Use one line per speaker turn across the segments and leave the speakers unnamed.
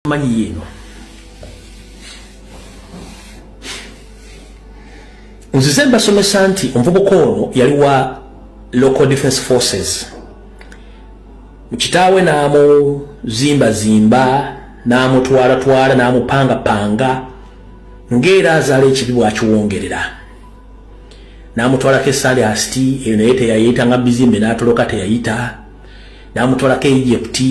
manyi yeno nzize mbasomesa nti omuvubuka ono yali wa local defense forces kitaawe n'amuzimbazimba n'amutwalatwala n'amupangapanga ng'era azaala ekibi bwakiwongerera n'amutwalako esaali asiti eyo naye teyayita nga bizimbe n'atoloka teyayita n'amutwalako egypti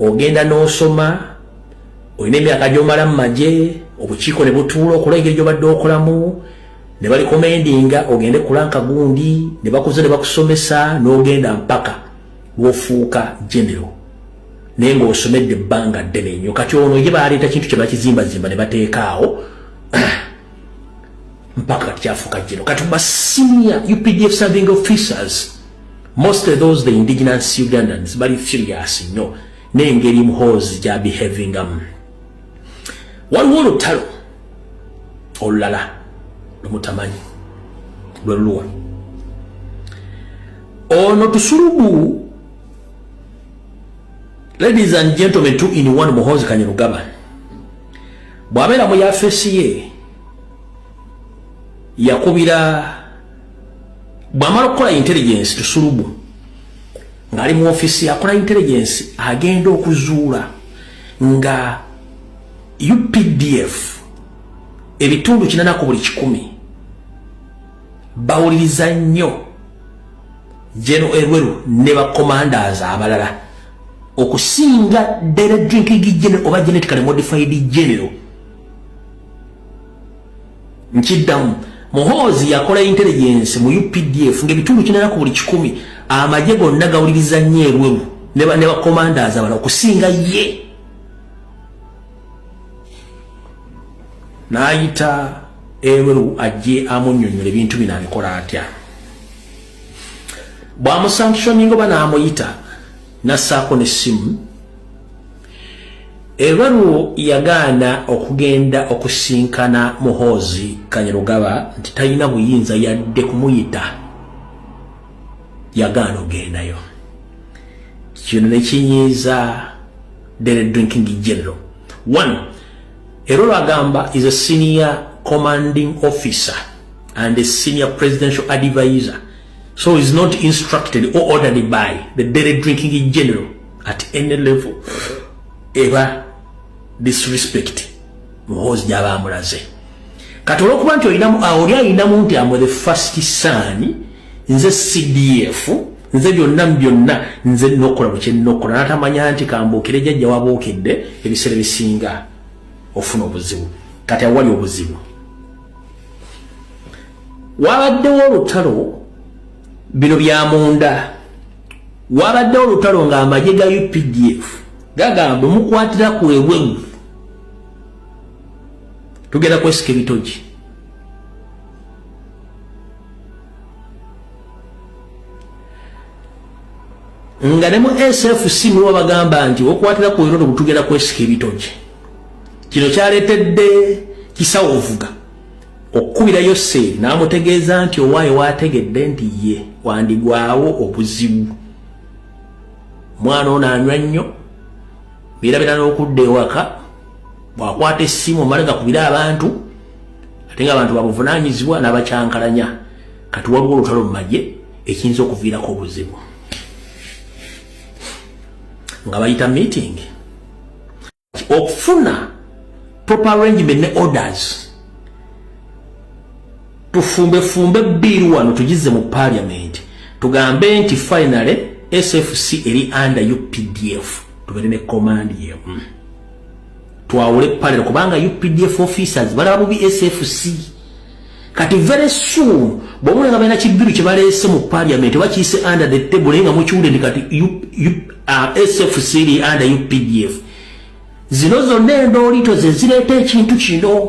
ogenda n'osoma olina emyaka gy'omala mu magye obukiiko ne butuula okola engeri gy'obadde okolamu ne balikomendinga ogende kulanka gundi ne bakuza ne bakusomesa n'ogenda mpaka lwofuuka genero naye ng'osomedde ebbanga ddene nnyo kati ono ye baleeta kintu kye bakizimbazimba ne bateekaawo mpaka kyafuka kino kati ba senior updf serving officers most of those the indigenous ugandans bali furious nnyo n'engeri muhoozi gya behavingamu waliwo olutalo olulala lumutamanyi lwe luluwa ono tusulubu ladies and gentlemen two in one muhoozi kanyarugaba bw'abeera mu yafeesi ye yakubira bw'amala okukola intelligence tusulubu ng'ali mu ofiisi yakola intelligence agenda okuzuula nga updf ebitundu kinanaku buli kikumi bawuliriza nnyo geno erweru ne bakomandas abalala okusinga dere drinking general oba genetically modified general nkiddamu muhoozi yakola intelligence mu updf ngaebitundu kinera ku buli kikumi amagye gonna gawuliriza nnyo ebweru ne bakomandaza bala okusinga ye n'ayita ebweru ajje amunyonyola ebintu bino abikola atya bwamusanctioning oba namuyita nasaako nessimu ebaluwo yagaana okugenda okusinkana muhoozi kanyarugaba nti talina buyinza yadde kumuyita yagaana ogendayo kino nekinyiiza dere drinking general one Era olagamba is a senior commanding officer and a senior presidential advisor so is not instructed or ordered by the daily drinking general at any level eba disrespect muhoozi gyaba amulaze kati olwokuba nti olinamu ah, oli ayinamu nti amwe the first son nze cdf nze byonna mubyonna nze nokola mukyenokola natamanya nti kambuukire jajja wabuukidde ebiseera bisinga ofuna obuzibu kati awali obuzibu wabaddewo olutalo bino byamunda wabaddewo olutalo nga amagye ga updf gagamba mukwatira kwewemu tugenda kwesika ebitogi nga ne mu sfc muliwo bagamba nti okwatira ku erodo butugenda kwesika ebitogi kino kyaleetedde kisawo ovuga okukubira yoseeri n'amutegeeza nti owaayo waategedde nti ye wandigwawo obuzibu mwana ono anywa nnyo birabira n'okudda ewaka bwakwata essimu omale gakubire abantu ate nga abantu babuvunanyizibwa n'abakyankalanya kati waliwo olutalo mu magye ekiyinza okuviirako obuzibu nga bayita meeting okufuna proper arrangement ne orders tufumbefumbe bbiiru wano tugize mu parliament tugambe nti finally sfc eri under updf tubere ne command yemu mm. twawule panel kubanga updf officers balaba bubi sfc kati very soon bwomuna nga balina kibiru kyebaleese mu parliament bakiise under the table naye nga mukiwude ndi kati uh, sfc li under updf zino zonna endoolito zezireeta ekintu kino